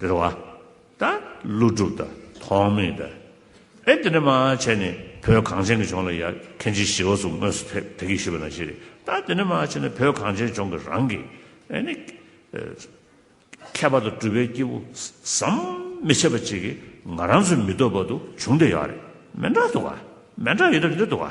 རེ་བ་དང་ཀླུ་སྒྲུབ་དང་ཐོགས་མེད་དང། ཨེ་དེ་འདྲ་མ་བྱས་ནས་བོད་གངས་ཅན་གྱི་ལྗོངས་ལ་ཡར་ཁན་ཅིག་ཞི་བ་སུ་དངོས་སུ་ཐེབས་ཐེ་གི་ཞུས་པ་ན་ཞེ་རེ་ད་དེ་འདྲ་མ་བྱས་ནས་བོད་གངས་ཅན་ལྗོངས་ཀྱི་རང་གི་ཨེ་ནི་མཁས་པ་དང་སྤྲུལ་པའི་སྐྱེས་བུ་ཟམ་མི་ཆད་པ་ཅིག་གིས་ང་རང་ཚོའི་མི་འདོད་པ་དུ་བྱུང་དེ་ཡག་རེད་མེད་འདྲ་འདུག་ག་མེད་འདྲ་ཡོད་འདྲ་མེད་འདྲ་འདུག་ག།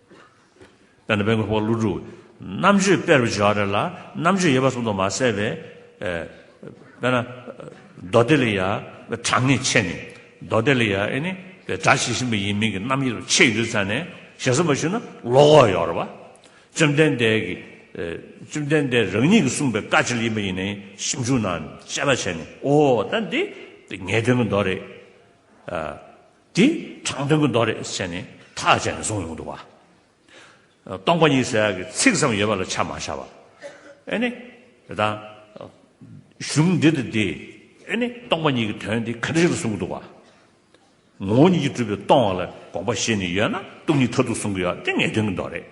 དཔེར་ན་བན་གོས་ཕོག་ཀླུ་སྒྲུབ། རྣམ་དཔྱོད་དཔེར་བྱ་བ་རེ་ལ་རྣམ་དཔྱོད་ཡོད་པ་གསུམ་དུ་མ་གསལ་བས། དཔེར་ན། མདོ་སྡེ་ལས་ཡ། གྲངས་ངེས་ཕྱེད་ནི། མདོ་སྡེ་ལས་ཡ་ཨེ་ནི། སྒྲ་ཇི་བཞིན་པ་ཡིན་མིན་གྱི་རྣམ་དབྱེ་རུ་ཕྱེད་ཡོད་དུ་བསམས་ནས་ཞེ་གསུམ་པར་ཞུགས་ན་བློ་ཁོག་ཡོད་རེད། བཅོམ་ལྡན་འདས་ཀྱིས། བཅོམ་ལྡན་འདས་རང་ཉིད་ཀྱིས་གསུངས་པའི་བཀའ་ཅི་ལ་ཡིན་པ་ཡིན་ནའི་ཞིབ་འཇུག་ནང་དཔྱད་པ་བྱས་ནས་ཨོ་ད་འདི། ངེས་དོན་གྱི་མདོ་རེད། དེ་དྲང་དོན་གྱི་མདོ་རེད་ཟེར་ནས་ཐག་བཅད་ནས་གསུང་ཡོང་འདུག་བ། སྟོང་པ་ཉིད་ཟེར་གི་ཚིག་ཙམ་ཡོད་པ་ལ་ཆ་མ་བཞག་བ། ཨེ་ནི། དེ་དང། གཞུང་འདི་དང་འདི། ཨེ་ནི། སྟོང་པ་ཉིད་ཀྱི་དོན་དེ་ག་འདྲ་ཞིག་ལ་གསུང་གི་འདུག་བ། ངོ་བོ་ཉིད་ཀྱིས་གྲུབ་པའི་སྟོང་བ་ལ་དགོངས་པ་བཞེས་ནས་ཡོད་ན་སྟོང་ཉིད་མཐར་ཐུག་གསུང་གི་ཡོད་དེ་ངེས་དོན་གྱི་མདོ་རེད།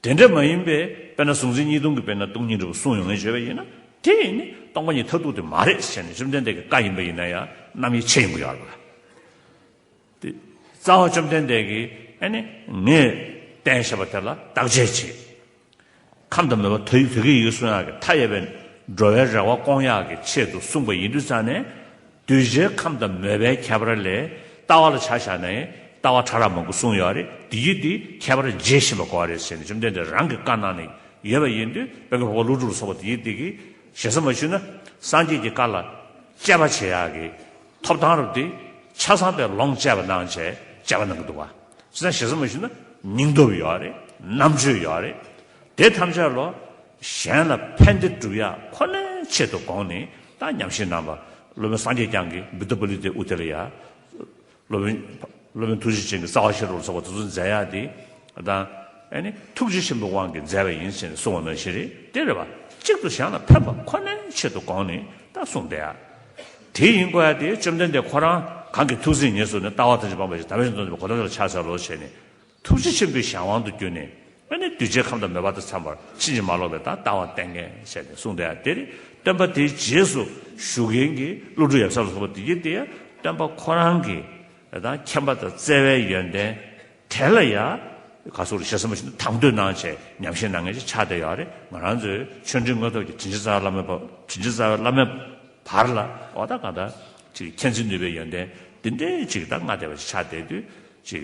དེ་འདྲ་མ་ཡིན་པས་དཔེར་ན་གཟུང་འཛིན་གཉིས་སྟོང་གི་དཔེར་ན་སྟོང་ཉིད་འབྲས་བུ་གསུངས་ཡོང་ངེས་བྱས་པ་ཡིན་ན་དེ་ཡིན་ནི་སྟོང་པ་ཉིད་མཐར་ཐུག་དེ་མ་རེད་ཟེར་ནས་བཅོམ་ལྡན་འདས་ཀྱི་བཀའ་ཡིན་པ་ཡིན་ན་ཡང་རྣམ་དབྱེ་ཕྱེ་ཡོང་གི་ཡོད་རེད། དེ་རྩ་བ་བཅོམ་ལྡན་འདས་ཀྱིས་ཨ་ནི་ངས་བསྟན་བཞེད་པ་དེ་ལ་བརྟག་དཔྱད་བྱེད་ཁམས་དང་མོས་པ་ཐ་ཡིག་དུས་ཀྱི་ཡིག་གསུང་ཡག་གི་མཐའ་ཡས་པའི་འགྲོ་བའི་རེ་བ་སྐོང་ཡག་གི་ཆེད་དུ་གསུངས་པ་ཡིན་དུས་རྩ་ནས་གདུལ་བྱའི་ཁམས་དང་མོས་པའི་ཁྱད་པར་ལས། ལྟ་བ་ལ་ཆ་བཞག་ནས་ལྟ་བ་ཕྲ་རགས་མང་པོ་གསུངས་ཡོད་རེད་དེ་ཡུལ་དེའི་ཁྱད་པར་འབྱེད་བཞིན་པ་གོ་བ་རེད་ཟེར་ནས་བཅོམ་ལྡན་འདས་རང་གི་བཀའ་གནང་ནས་ཡོད་པ་ཡིན་དུས་དཔོན་གྱི་བུ་ག་ཀླུ་སྒྲུབ་ལ་སོགས་པ་དེ་ཡུལ་དེ་གི་ཞེ་ས་མ་ཞུས་ན་སངས་རྒྱས་ཀྱི་བཀའ་ལ་དཔྱད་པ་བྱེད་ཡག་གི་ཐོབ་ཐང་རུ་དེ་ཆ་ཚང་པའི་ལོངས་སྤྱད་པ་གནང་བྱས་དཔྱད་པ་གནང་གི་འདུག་བ་ཅི་ན་ཞེ་ས་མ་ཞུས་ན་སྙིང་སྟོབས་ཡོད་རེད་རྣམ་དཔྱོད་ཡོད་རེད་དེ་ཐམས་ཅད་ལོ། གཞན་ལ་ཕན་བདེ་བསྒྲུབ་ཡ་ཁོ་ནའི་ཆེད་དུ་དགོངས་ནས་ད་ཉམས་ཞིབ་གནང་བ། སློབ་དཔོན་སངས་རྒྱས་བསྐྱངས་ཀྱི་བི་ཏུ་པ་ལི་ཏའི་ཨུ་ཏེ་ལ་ཡ། སློབ་དཔོན་སློབ་དཔོན་ཐུགས་རྗེ་ཅན་གྱི་རྩ་བ་ཤེས་རབ་ལ་སོགས་པ་སོ་སོར་མཛད་ཡ་དེ་དང། ཐུགས་རྗེ་ཆེན་པོའི་དབང་གིས་མཛད་པ་ཡིན་ཟེར་ནས་གསུང་བ་ན་བཞིན་རེད་དེ་རེད་པ། གཅིག་ཏུ་གཞན་ལ་ཕན་པ་ཁོ་ནའི་ཆེད་དུ་དགོངས་ནས་ད་གསུངས་བསྡད་ཡ། དེ་ཡིན་དགོས་ཡ་དེ་བཅོམ་ལྡན་འདས་ཁོ་རང་གང་གི་ཐུགས་སེམས་ངལ་བསོས་ནས་ལྟ་བ་ཐམས་ཅད་སྤངས་པ་བཞིན་དམ་པའི་སེམས་སྟོང་ཆེན་པོ་གོ་ཐོབ་ལྟར་ཆགས་བྱ་བ་ལོ་བྱས་ནས། ཐུགས་རྗེ་ཆེན་པོའི་གཞན་དབང་དུ་གྱུར་ནས། སྔོན་ནས་གདུལ་བྱའི་ཁམས་དང་མོས་པ་དང་འཚམས་པར་ཕྱིན་ཅི་མ་ལོག་པའི་དང་ལྟ་བ་བསྟན་མཁན་བྱས་ནས་གསུངས་ཏེ། དེར་སྟོན་པ་དེའི་རྗེས་སུ་ཞུགས་མཁན་གྱི་ཀླུ་སྒྲུབ་ཡབ་སྲས་ལ་སོགས་པ་འདུས་ཀྱི་དེ་ཡང་སྟོན་པ་ཁོ་རང་གི་དང་མཁྱེན་པ་དང་བརྩེ་བའི་ཡོན་ཏན་དེ་ལ་ཡང་ག་སོགས་རིག་བྱེད་ཟབ་མོ་ཞིག་ནི་དང་དོད་ནང་བྱས་ཉམས་ཤིང་ནང་ངེས་ཀྱི་ཕྱག་དེ་ཡང་རེ་ང་རང་ཚོའི་ཆོས་འབྲེལ་དངོས་ཐོག་གི་དྲིན་ཅན་རྩ་བའི་བླ་མའི་དྲིན་ཅན་རྩ་བའི་བླ་མའི་བར་ལ་ཨོ་ད་གང་ལྟར་ཅིག་མཁྱེན་བརྩེ་ནུས་པའི་ཡོན་ཏན་འདི་འདྲའི་ཅིག་དང་མངའ་བདེ་བ་ཞིག་ཕྱག་དེ་དུས་ཅིག་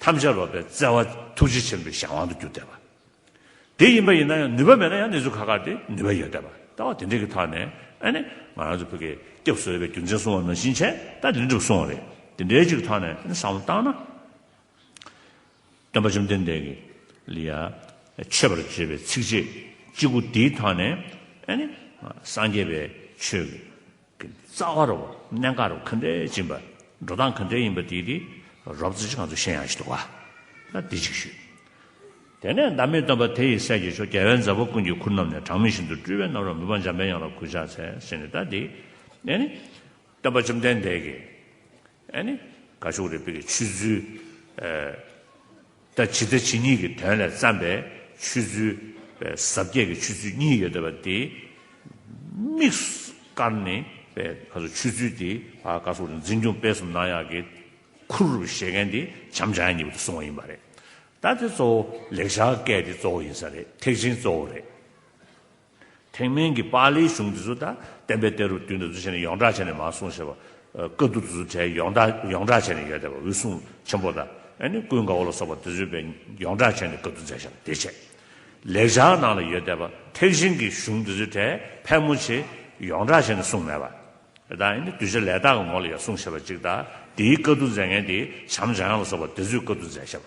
ཐམས་ཅད་ལོག་པའི་བརྩེ་བ་ཐུགས་རྗེ་ཆེན་པོའི་གཞན་དབང་དུ་འགྱུར་བསྡད་པ། དེ་ཡིན་པ་ཡིན་ན་ཡང་ནུས་པ་མེད་ན་ཡང་གནས་ཚུལ་ཁ་ཁར་ཏེ་ནུས་པ་ཡོད་བསྡད་པ། ལྟ་བ་དེ་འདྲས་ཀྱི་ཐག་ནས་ཨ་ནི་ང་རང་ཚོ་བོད་སྐད་སྐྱབས་གསོལ་བའི་རྒྱུ་མཚན་གསུང་བ་ནང་བཞིན་བྱས་ད་དེ་འགྲུབ་སོང་བ་རེད། དེ་འདྲས་ཅིག་གི་ཐག་ནས་ཨ་ནི་བསམ་བློ་བཏང་ན། སྟོན་པ་བཅོམ་ལྡན་འདས་ཀྱི་ལི་ཡ་མཆོད་པར་བརྗོད་པའི་ཚིགས་བཅད་གཅིག་པོ་དེའི་ཐག་ནས་ཨ་ནི་སངས་རྒྱས་པའི་ཆོས་ཀྱི། གི་རྩ་བ་རུ་གནད་འགག་རུ་གང་འདྲའི་སྦྱིན་པ་འགྲོ་སྟངས་གང་འདྲའི་ཡིན་པ་དེའི་དེའི་རོབ་རྩེ་གཅིག་གང་ཚོད་ཤེས་ཡང་ཞིག་འདུག་བ་ན་དེ་གཅིག་ཞུས། དེ་ནས་བདག་མེད་སྟོན་པ་དེ་ཡི་སྲས་ཀྱི་ཆོས་རྒྱལ་བས་མཛའ་བོ་ཀུན་གྱི་ཁུར་བསྣམས་ནས་གྲངས་མེད་བཞིན་དུ་སྤྲུལ་བའི་རྣམ་རོལ་མི་སྤང་འཇམ་པའི་དབྱངས་ལ་གུས་ཕྱག་འཚལ་ཟེར་ནས་བདག་དེའི། དེ་ནི་སྟོན་པ་བཅོམ་ལྡན་འདས་ཀྱི། ཨ་ནི། དགའ་ཕྱོགས་རེ་དཔེ་གི་ཆུད་ཚུལ། ད་ཇི་ལྟ་ཇི་སྙེད་ཀྱི་དོན་ལས་བརྩམས་པའི་ཆུད་ཚུལ། ཟབ་རྒྱས་ཀྱི་ཆུད་ཚུལ་གཉིས་ཡོད་དེ་བ་དེ། དམིགས་བཀར་ནི། པའི་ཁ་སོ་ཆུད་ཚུལ་དེ། ཨ་དཀར་སོགས་རིག་འཛིན་འབྱུང་དཔེ་གསུམ་སྣང་ཡང་གི། ཁུར་རུ་བཞེས་མཁན་དེ་བྱམས་བྱ་ཡང་གཉིས་པོ་དེ་གསུང་བ་ཡིན་པ་རེད། ད་དེ་གཙོ་བོ་ལེགས་བྱ་སྐད་དེ་གཙོ་བོ་ཡིན་ས་རེད་ཐེག་ཆེན་གཙོ་བོ་རེད། ཐེག་དམན་གྱི་པཱ་ལིའི་གཞུང་འདི་ཚོ་དང་བསྟན་པའི་གཏེར་རུ་བསྡུས་ནས་འདུ་བྱས་ནས་ཡོངས་གྲགས་བྱས་ནས་མ་གསུངས་ཞེས་པ། བཀའ་བསྡུ་འདི་ཚོ་གྲྭའི་ཡོངས་གྲགས་ཡོངས་གྲགས་བྱས་ནས་ཡོད་དེ་བ་འུ་སུང་ཆེན་པོ་དང་ནི་ཀུན་དགའ་བོ་ལ་སོགས་པ་འདི་ཚོས་པའི་ཡོངས་གྲགས་བྱས་ནས་བཀའ་བསྡུ་མཛད་བཞག་བདེ་བྱེད་ལེགས་བྱང་ནང་ལ་ཡོད་དེ་བ་ཐེག་ཆེན་གྱི་གཞུང་འདི་ཚོས་གྲྭའི་ཕལ་མོ་ཆེ་ཡོངས་གྲགས་བྱས་ནས་གསུངས་མེད་པ། དང་ནི་གདུལ་བྱ་ལས་དག་གི་ངོ་ལ་ཡང་གསུངས་ཞེས་པ་ཅིག་དང་དེའི་བཀའ་བསྡུ་མཛད་མཁན་དེ་བྱམས་བྱ་ཡང་ལ་སོགས་པ་འདི་ཚོས་བཀའ་བསྡུ་མཛད་བཞག་པ།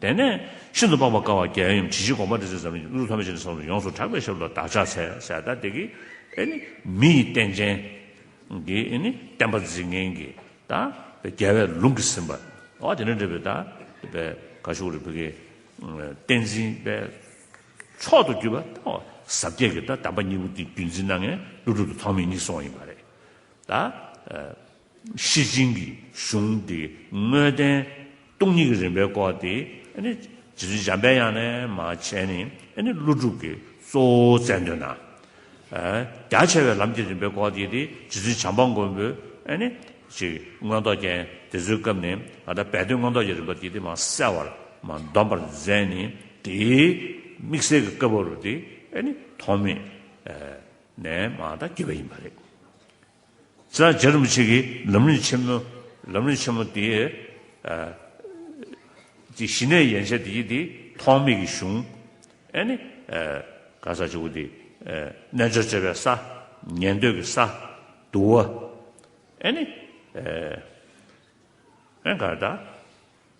དེ་ནས་ཤིན་ཏུ་སྤངས་པ་དཀའ་བ་བརྒྱ་ཡན་ཡོམ་ཇི་བཞིན་དགོངས་པ་འགྲེལ་ཚུལ་ཟབ་མོ་ནི་ཀླུ་ཐམས་ཅད་ནི་གསང་དུ་ཡོངས་སུ་གྲགས་པའི་ཞབས་ལ་བདག་ཕྱག་འཚལ་ཟས་དག་སྟེ་ཀྱི། ཨེ་ནི་མི་ཡི་རྟེན་ཅན། གྱི་ཨེ་ནི་བསྟན་པ་འཛིན་མཁན་གྱི། དག་པའི་རྒྱལ་བས་ལུང་གིས་ཟིན་པ། འོ་དེ་ནས་འབྲེལ་པའི་དག་པའི་ག་ཤུག་རི་བུ་ཀའི། བསྟན་འཛིན་པའི། མཆོག་ཏུ་གྱུར་པ་དག་པ་ཟབ་རྒྱས་ཀྱི་དག་དམ་པ་གཉིས་པོ་འདི་བརྒྱུད་འཛིན་སྣ་ལྔའི་ཀླུ་སྒྲུབ་ཏུ་ཐོགས་མེད་ཉིད་སོགས་ཡིན་པ་རེད། དག། གཤེད་སྦྱིན་གྱི་གཞུང་དེ་དངོས་བསྟན་སྟོང་ཉིད་ཀྱི་རིམ་པའི་སྐོར་དེ་ནི་ཇི་བཞིན་འཇམ་དཔལ་དབྱངས་ལས་མ་བྱས་ནས་ཀླུ་སྒྲུབ་ཀྱི་གཙོ་བོ་བཙལ་འདོད་ན། རྒྱ་ཆེ་བའི་ལམ་གྱི་རིམ་པའི་སྐོར་དེ་དེ་ཇི་བཞིན་བྱམས་པ་མགོན་པོས་ཅིག་མངོན་རྟོགས་རྒྱན་དེ་ཚོའི་སྐབས་ནས་ད་ལྟ་བས་དོན་མངོན་རྟོགས་ཀྱི་རིམ་པ་དེ་དེ་མ་གསལ་བར་མ་འདོམས་པར་མཛད་ནས་དེའི་དམིགས་བསལ་གྱི་སྐབས་བབ་རུ་དེ་ཐོགས་མེད་ནས་མ་ད་བགྱིས་པ་ཡིན་པ་རེད། རྩ་བརྒྱད་རིན་པོ་ཆེ་གི་ལམ་རིམ་ཆེན་མོ། ལམ་རིམ་ཆེན་མོ་དེ། དེ་ཞི་གནས་ཡན་ཆད་དེ་དེ་ཐོག་མེད་ཀྱི་གཞུང། ཨེ་ནི། གང་ཟག་བཅུ་པོ་དེ། རྣལ་འབྱོར་སྤྱོད་པའི་ས། ཉན་ཐོས་ཀྱི་ས། དུ་བ། ཨེ་ནི། ཨེ་གང་ལྟར།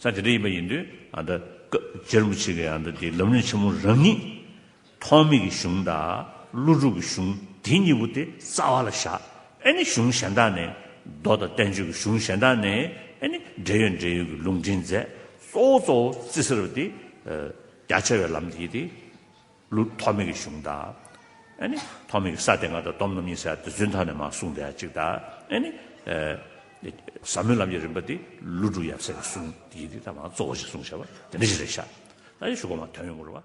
ས་དེ་འདྲ་ཡིན་པ་ཡིན་དུས། སྐབས་དེར་མི་ཆོས་ཀྱི་དེའི་ལམ་ལུགས་ཆེན་མོ་རང་ཉིད། ཐོག་མེད་ཀྱི་གཞུང་དང་ཀླུ་སྒྲུབ་ཀྱི་གཞུང་དེ་གཉིས་པོ་དེ་རྩ་བ་ལ་བཞག་ཨེ་ནི་གཞུང་གཞན་དག་ནས་མདོ་དང་བསྟན་བཅོས་ཀྱི་གཞུང་གཞན་དག་ནས་ཨེ་ནི་འབྲེལ་ཡོད་འབྲེལ་ཡོད་ཀྱི་ལུང་འདྲེན་མཛད་གཙོ་བོ་གཙོ་བོ་རྩིས་ཟེར་བ་དེ། རྒྱ་ཆེ་བའི་ལམ་དེ་ཡིན་ཏེ། ལུགས་ཐོགས་མེད་ཀྱི་གཞུང་དང། ཐོགས་མེད་ཀྱི་ས་དེ་སྔ་དྲ་སྡོམ་རྣམ་གཉིས་སའི་བདུད་བཙུན་དག་ནས་མ་གསུངས་པའི་གཅིག་དང། ཟབ་མོའི་ལམ་གྱི་རིམ་པ་འདི་ཀླུ་སྒྲུབ་ཡབ་སྲས་ཀྱི་གསུང་ཡིག་འདི་དག་མ་གཙོ་བོ་ཞེས་གསུངས་བྱ་བ་འདི་འདྲ་ཞིག་རེད་ཤག། ད་ཡོད་ཞུ་སྒོ་མ་དོན་ཡོད་མོ་རུ་བ།